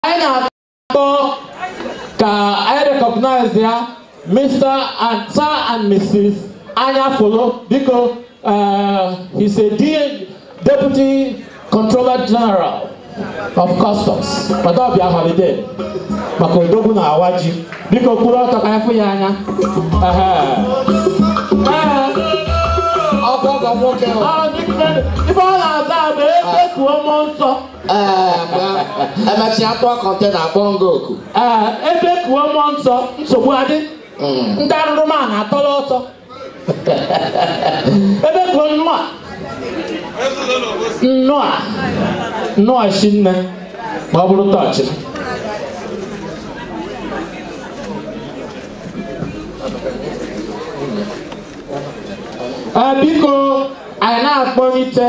anyị na-achọ ka anyị recognize ya Mr. and Sir and Mrs. Anyafulu biko uh, he's a de- deputy controller general of customs ma ọ bịa holiday maka odogwu na-awa ji biko kwuru ọtọ ka anyị fụ ya anya Ehe. Ehe. ọkwa ọgọ nwoke ọ. Ọ dị mfe. ife ọ na-aza bụ ebekuo mmụọ nsọ emechaa kpọọ kọntena akpọ nga oku ee ebekuo mmụọ nsọ nsogbu adị ndị arụrụ ma na-atọrọ ọsọ ebekuo nnụa nnụa nnụa shinne ma ọ bụrụ tọọchị Ee, biko anyị na-akpọlite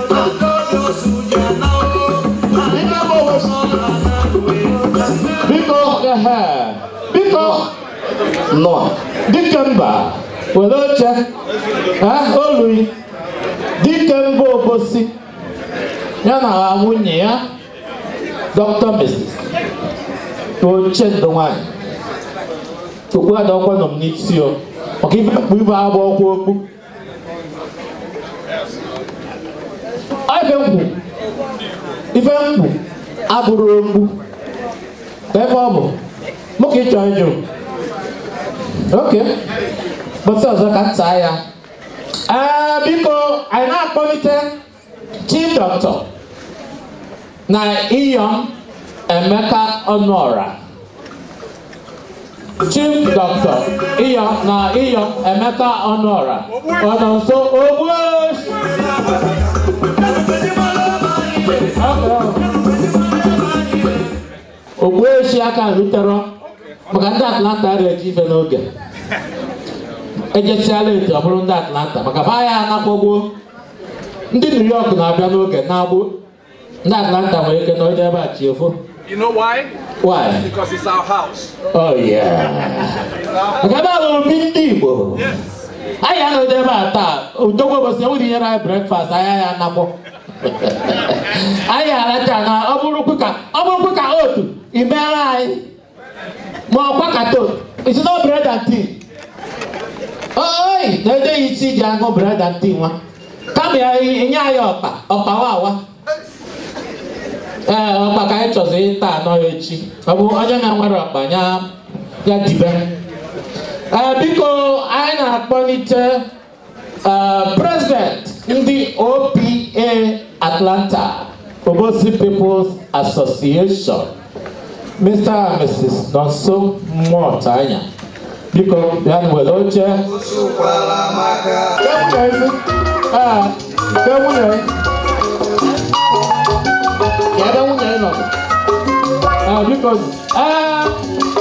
biko ehe biko nọ Dikemba were oche ha olui Dikemba Obosi ya na ha nwunye ya dọkịta mrs Uchendu nwanyị okpu adịkwanụ m n'isi o maka ife m kpu ibe agba ọkwa okpu ife m kpu ife m kpu abụrọ okpu ebe ọ bụ mụ ka ị chọ ịjụ oke bọtụ ọzọ ka m taa ya ee biko anyị na-akpọlite Chief Doctor na Iyom Emeka Ọnụọra Chief Doctor Iyom na Iyom Emeka Ọnụọra ọ nọ nso Ogbueshi Ogbueshi aka rutere maka ndị Atlanta ara eje ife n'oge ejesiala etu ọ bụrụ ndị Atlanta maka fa ya anakwagbuo ndị new york na-abịa n'oge na-abụ ndị atlanta nwere ike na onye ebe a chi efo You know why? why Because it's our house. oh yeah nke ebe a bụ obi ndị igbo Yes. anyị anọdụ ebe a taa odogbo ụbọchị enweghị nyere anyị breakfast anyị ya anakpọ anyị aracha na ọ bụrụkwu ka ọ bụrụkwu ka otu imeara anyị ma ọkwa kato it's not bread and tea oi na ede ya isi ji aṅụ bread and tea nwa kama ya nye anyị ọkpa ọkpa wawa ee ọkpa ka anyị chọziri ịta anọ ya echi ọ bụ onye na nwere ọkpa ya ya dibe ee biko anyị na-akpọlite Uh, President ndị OPA Atlanta Obosi People's Association Mr. and Mrs. Nonso Motanya biko bịa nwere oche Ka nwunye ezi. Ah, ka nwunye. Ya ebe nwunye ị nọ. Ah, biko ah,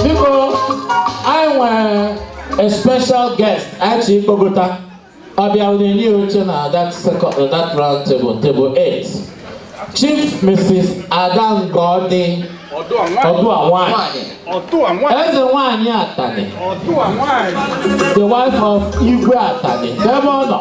biko anyị nwere a special guest a chọ ịkpọgota ọ bịa e nye ya oche na that second na that round table table 8 chief mrs Ada Ngoddy ọdụa nwanyị eze nwanyị Atani the wife of Igwe Atani ebe ọ nọ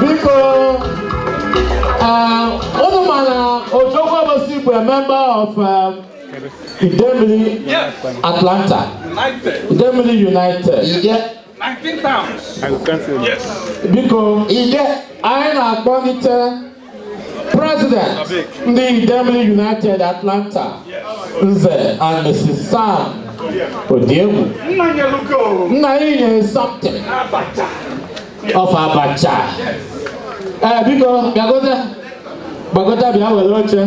biko ah, unu ma na ojoko Obosi bụ a member of um, Idemili Atlanta Idemili United Ide, biko anyị na-akpọlite President ndị Idemili United Atlanta Nze and Mrs. Sam Odiegwu nna anyị nyere something of Abacha ee biko bịagote gbagota bịa were oche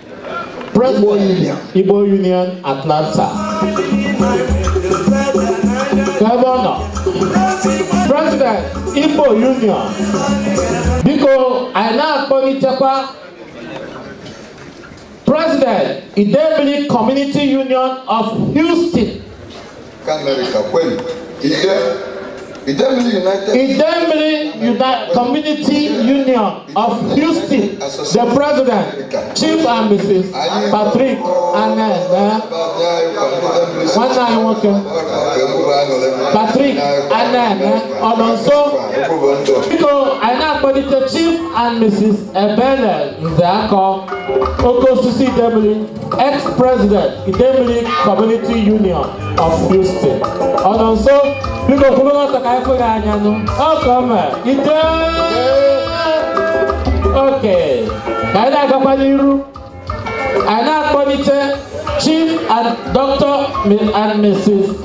Igbo Union Igbo Union Atlanta gọvanọ president Igbo Union biko anyị na-akpọlitekwa president Idemili Community Union of Houston Idemili United Community Union of Houston, the president, Chief and Mrs. Patrick Anel. Nwanne anyị nwoke, Patrick Anel, ọ nọ nso? Biko, anyị na-akpọlite Chief and Mrs. Ebele Nzeakọ, oke osisi Idemili. ex-president Idemili Community Union of Houston ọ nọ nso biko kwụrụ ọtọ ka anyị fụ gị anya nwoke ọma Ide okay ka anyị na-agakwa n'iru anyị na-akpọlite Chief and Dr. and Mrs.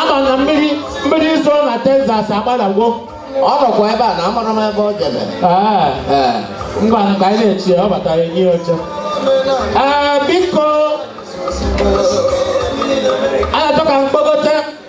ama na mmiri mmiri izo na Texas agbadagwo ọ nọkwa ebe a na amarọ m ebe o jebe Ee, ee ngwa ka anyị na-eche ya, ọ bata e nye ya oche Ee, biko a na-achọ ka m kpọgote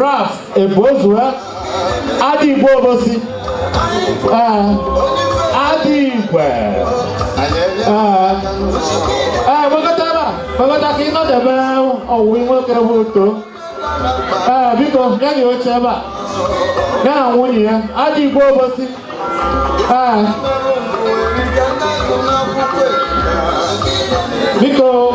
Raf Ebozua Adigbo Obosi ee Adigwe ee ee gbagote ebe a gbagote ka ị nọdebe ọwụwa nwoke bụ uto ee biko e nye ya oche ebe a ya na nwunye ya Adigbo Obosi ee biko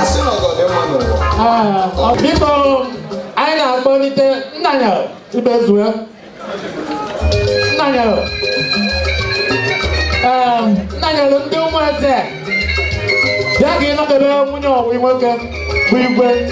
asị na ọgọ dị mma n'ụwa Ah, ọ biko anyị na-akpọlite Nnanyelu Ibezue Nnanyelu Em, Nnanyelu ndị ụmụeze bịa ka ị nọdebe nwunye ọwụ nwoke bụ igwe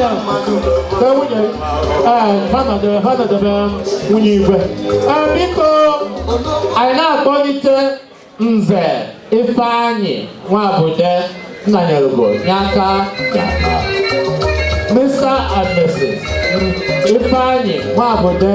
ya be nwunye ee fa nọdebe fa nọdebe nwunye igwe ee biko anyị na-akpọlite nze ifeanyị nwabude nnanyerugo nye aka mr and mrs ifeanyị nwabude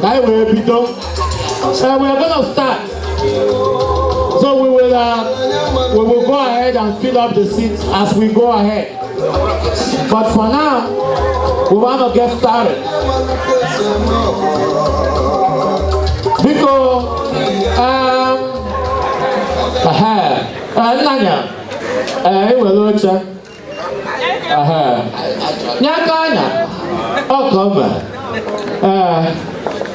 ka anyị wee bido so we are gonna start so we will uh, we will go ahead and fill up the seats as we go ahead but for now we wanna get started biko um, aha, eh, nna ya eh, ewere oche Aha. nye aka anya ọkọ mba ee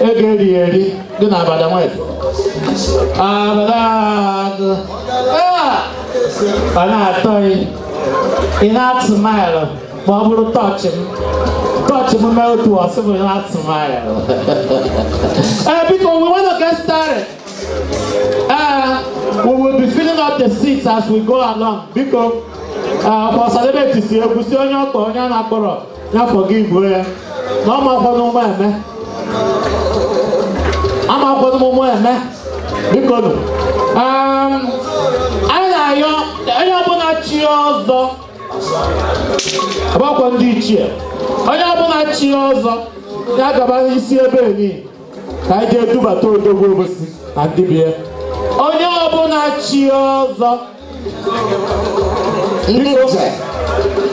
ego eri eri dị na abada nwanyị abada agụ ee ọ na-atọ ị ị na-atụ maịlụ ma ọ bụrụ tọọchị m tọọchị m mee otu ọ sị m na-atụ maịlụ ee biko we want to get started Uh, we will be filling up the seats as we go along. Biko, uh, for celebrity, si egwu si onye ọkpọ onye a na-akpọrọ ya forgive ya. Na amakwanụ ụma eme. Amakwanụ ụma eme. Biko nụ. Um, anyị na-ayọ onye ọbụla chi ọzọ. Ọgbakọ ndị ichie. Onye ọbụla chi ọzọ ya gaba n'isi ebe enyi. ka anyị je dubata odogwu obosi na ndị be ya onye ọbụla chi ọzọ ndị nze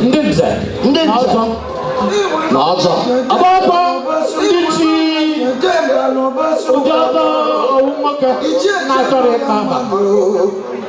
ndị nze ndị na nze ọzọ na ọzọ ọgbakọ ndị chili ọzọ owu nwoke na-achọrọ ịkpa mba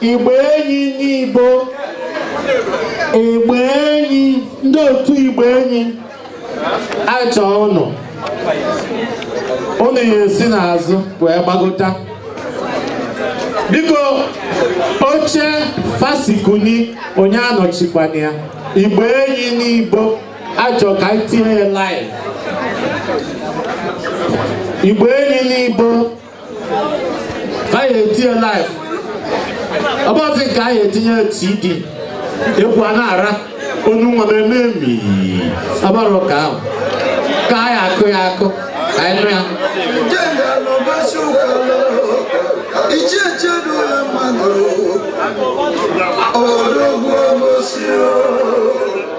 igbe enyi n'igbo igbe enyi ndị otu igbe enyi a chọọ ụnụ ụnụ ya esi n'azụ wee gbagota biko oche fasikuni onye anọchikwana ya igbe enyi n'igbo achọ ka anyị tie live igbe enyi n'igbo ka a ya-etie live ọ bụghịzi nke a ya-etinye cd egwu a na-ara onye nwa m eme emi ọ bụrụ ka a hụ ka a ya-akụ ya akụ ka anyị nụ ya Odogwu Obosi o.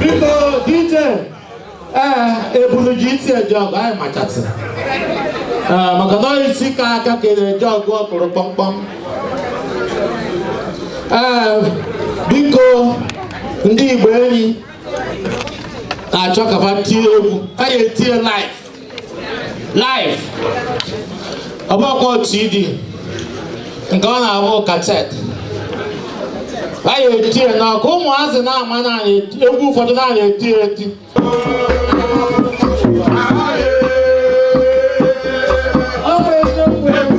biko dj ee ebulu ji isi eje ọgụ anyị machasị Ee, maka na onye isi ka aka ka eje ọgụ ọ kụrụ kpọmkpọm ee biko ndị igbe enyi na-achọ ka fa tie egwu fa ya etie live live ọ bụkwọ CD nke ọ na-abụ kaset a ya-etie n'aka ụmụazị na-ama na egwu ụfọdụ na anyị eti eti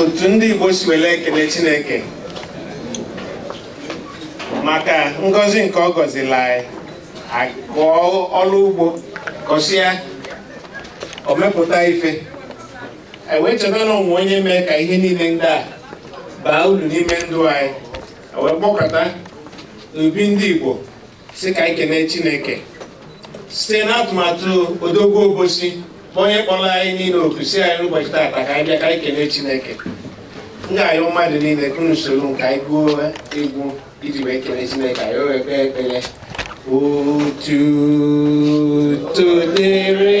otu ndị Igbo si wele ekene Chineke maka ngọzi nke ọ gọzila anyị a kọọ ọlụ ugbo kọsịa o mepụta ife ewee cheta na o nwe onye mee ka ihe niile ndị a baa ulu n'ime ndụ anyị ewee gbakọta n'obi ndị Igbo si ka anyị kelee chineke site n'atụmatụ odogwu obosi bụ onye kpọrọ anyị niile oku si anyị n'ụbọchị taata ka anyị bịa ka anyị kelee chineke m ga-ayọ mmadụ niile ka unu soro m ka anyị gụọ egwu iji wee kelee chineke anyị o wee kpee ekpere otuto dịrị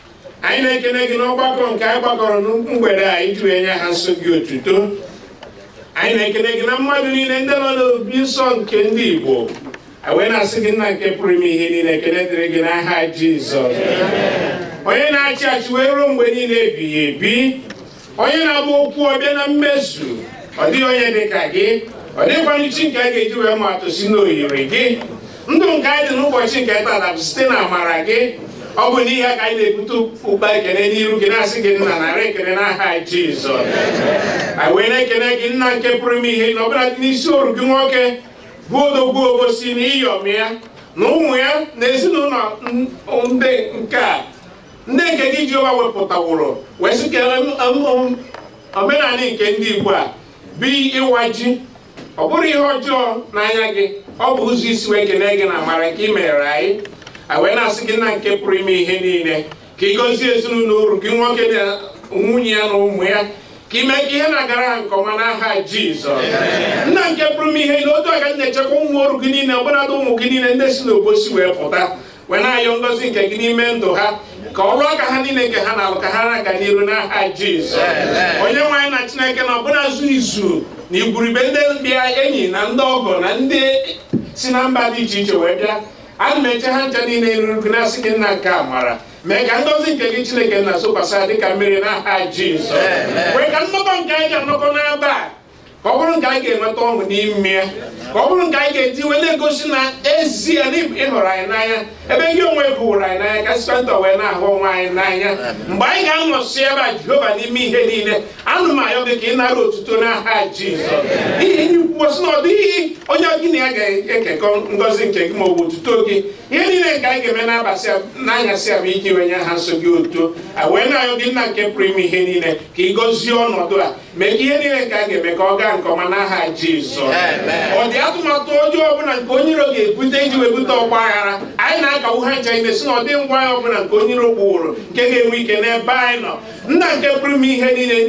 anyị na-ekene gị n'ọgbakọ nke anyị gbakọrọ na mgbede a iji wee nye aha nsọ gị otuto anyị na-ekene gị na mmadụ niile ndị nọ n'obi nsọ nke ndị Igbo wee na-asị gị nna nke pụrụ ime ihe niile ekene dịrị gị n'aha Jizọs onye na-achị achị wee ruo mgbe niile ebighị ebi onye na-agba okwu ọ bịa na mmezu ọ dịghị onye dị ka gị ọ dịghịkwanụ chi nke a ga-eji wee maa atụ sị na o yiri gị ndụ nke anyị dị n'ụbọchị nke tata bụ site na amara gị ọ bụ n'ihi ya ka anyị na-ebute ụkpa ekene n'iru gị na-asị gị nna narị ekene n'aha Jizọs anyị wee na-ekene gị nna nke pụrụ ime ihe na ọbụnadị n'isi oru gị nwoke bụ odogwu obosi na iyom ya na ụmụ ya na ezinụlọ ndị nke a ndị nke gị Jehova wepụtaworo wee sị ka omenala nke ndị Igbo a bụ ịwa ji ọ bụrọ ihe ọjọọ n'anya gị ọ bụ ụzọ e si wee kene gị na amara nke ị mere anyị a wee na-asị gị nna nke pụrụ ime ihe niile ka ị gọzie ezinụlọ oru gị nwoke na nwunye ya na ụmụ ya ka i mee ka ihe na-agara ha nke ọma n'aha Jizọs nna nke pụrụ ime ihe na otu aka na-echekwa ụmụ oru gị niile ọbụnadụ ụmụ gị niile ndị si n'obosi wee pụta wee na-ayọ ngọzi nke gị n'ime ndụ ha ka ọrụ aka ha niile nke ha na-alụ ka ha na-aga n'iru n'aha Jizọs onye nwe anyị na Chineke na ọbụna zu izu na igwurube ndị ọbịa enyi na ndị ọgọ na ndị si na mba dị iche iche wee bịa ana m eche ha ncha niile n'iru gị na-asị gị nna nke amara mee ka ngọzi nke gị Chineke nna zokwasị dịka mmiri n'aha Jizọs mee ka nnọkọ nke anyị ga-anọkọ n'ebe a ka ọ bụrụ nke anyị ga-enweta ọṅụ n'ime ya ka ọ bụrụ nke anyị ga-eji wee na-egosi na ezie na ị hụrụ anyị n'anya ebe gị onwe gị hụrụ anyị n'anya ka anyịnwa wee na-ahụ onwe anyị n'anya mgbe anyị ga-anọsi ebe a jehova n'ime ihe niile ana m ayọ gị ka ị nara otuto n'aha jizọs n'ihi na i kwuwo sị na ọ dịghị onye gị na ya ga-ekekọ ngọzi nke gị ma ọ bụ otuto gị ihe niile nke anyị ga-eme n'abasị a- n'anyasị a bụ iji wee nye aha nsọ gị otuto a wee na-ayọ gị nna nke pụrụ ime ihe niile ka ị gọzie ọnọdụ a mee ihe niile nke a ga-eme ka ọ gaa nke ọma n'aha Jizọs ọ dị atụmatụ ọjọọ ọbụla nke onye iro ga-ebute iji wee bute ọgba aghara anyị na-akagbu ha ncha niile sị na ọ dịghị ngwa aya ọbụla nke onye iro kpụworo nke ga-enwe ike n'ebe anyị nọ nna nke pụrụ ime ihe niile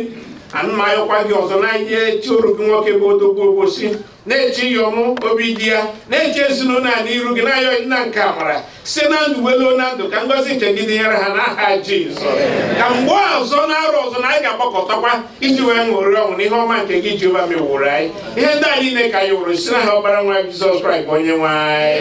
ana m ayọkwa gị ọzọ na-eche oru gị nwoke bụ odogwu obosi na-eche iyom obidiya na-eche ezinụlọ a n'iru gị na-ayọ nna nke amara si na ndụ wee luo na ndụ ka ngọzi nke gị dịnyere ha n'aha Jizọs ka mgbe ọzọ n'arọ ọzọ na anyị ga-agbakọtakwa iji wee ṅụrịa ọṅụ n'ihe ọma nke gị Jehova meworo anyị ihe ndị a niile ka anyị yọrọ si n'aha ọkpara nwa Jizọs Kraịst bụ onye nwe anyị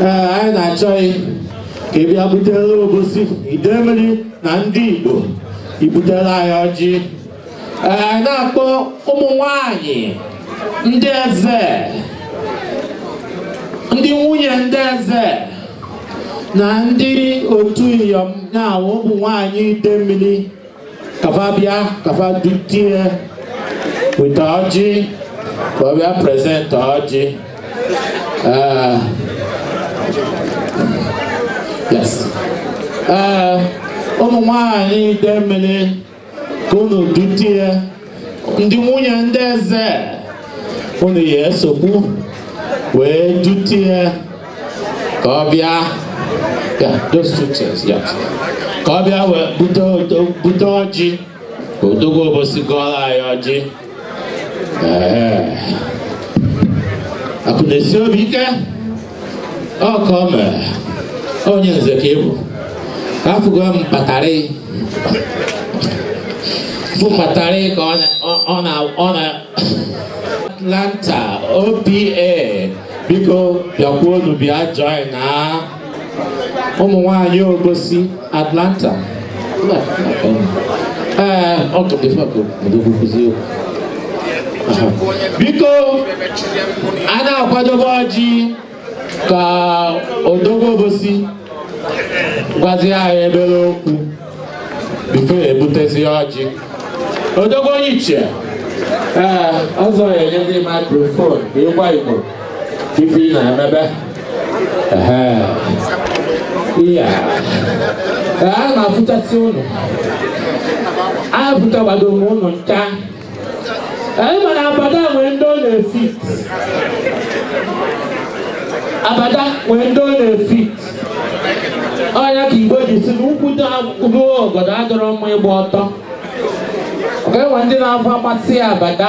ee anyị na-achọ gị ka ị bịa butere obosi idemili na ndị igbo i butere anyị ọjị ee anyị na-akpọ ụmụ nwanyị ndị eze ndị nwunye ndị eze na ndị otu iyom na ụmụ nwanyị idemili ka fa bịa ka fa dute ya weta ọjị ka ọ bịa present ọjị Eh, yes Eh, ụmụ nwanyị Idemili ka unu dute ya ndị nwunye ndị eze unu ya esokwu wee dute ya ka ọ bịa ya those two chairs ya ka ọ bịa wee bute odo- bute ọjị ka odogwu obosi gọọlụ anyị ọjị Ee. akụ na-esi obi ike ọka o mere onye nze ka ị bụ afụgo m ka ị batarị batarị ka ọ na- ọ- ọ na ọ na atlanta opa biko bịakwuonu bịa join na ụmụ nwanyị obosi Atlanta. Mba, ee, ọ tụrụ ife ọkụ odogwu nkụzi okwu. Aha. Biko, a na-akwadobe ọjị ka odogwu obosi gwazi anyị obele okwu before ebutezi ọjị. Odogwu onye ichie, ee, ọzọ ya enyezi microphone ka ị gwa Igbo. ife ị na-emebe ehe iya Ee, a na-afụchasị ụnụ afụchagbado m ụnụ ncha anyị ma na abada nwere ndị ọ na-efit abada nwere ndị ọ na-efit ọ ya ka igbo ji sị na ukwu dị ruo obodo adịrọ mma ịgba ọtọ ọ ga-enwe ndị na-afọ amasị abada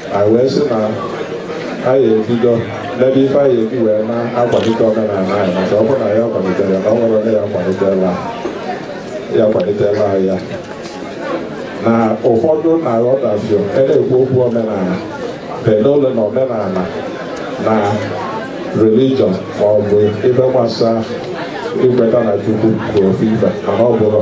anyị wee sị na anyị ebido n'ebe ife anyị ya-eji wee na-akwalite omenala anyị maka ọ bụrụ na anyị akwaliterọ ya na o nwerọ onye ya kwalitela ya kwalitela anyị ya na ụfọdụ na-aghọtafie na-ekwu okwu omenala pedole na omenala na religion ma ọ bụ ife gbasa ikweta na chukwu bụ ofu ife mana ọ bụrọ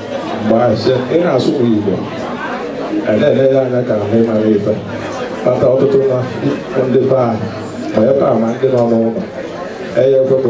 mgbe ahụ sị ị na-asụ igbo a na-ele ya anya ka ndị amarọ ife kpata ọtụtụ na ndị be anyị ma ebe a ma ndị nọ n'ụlọ eye ekwe ka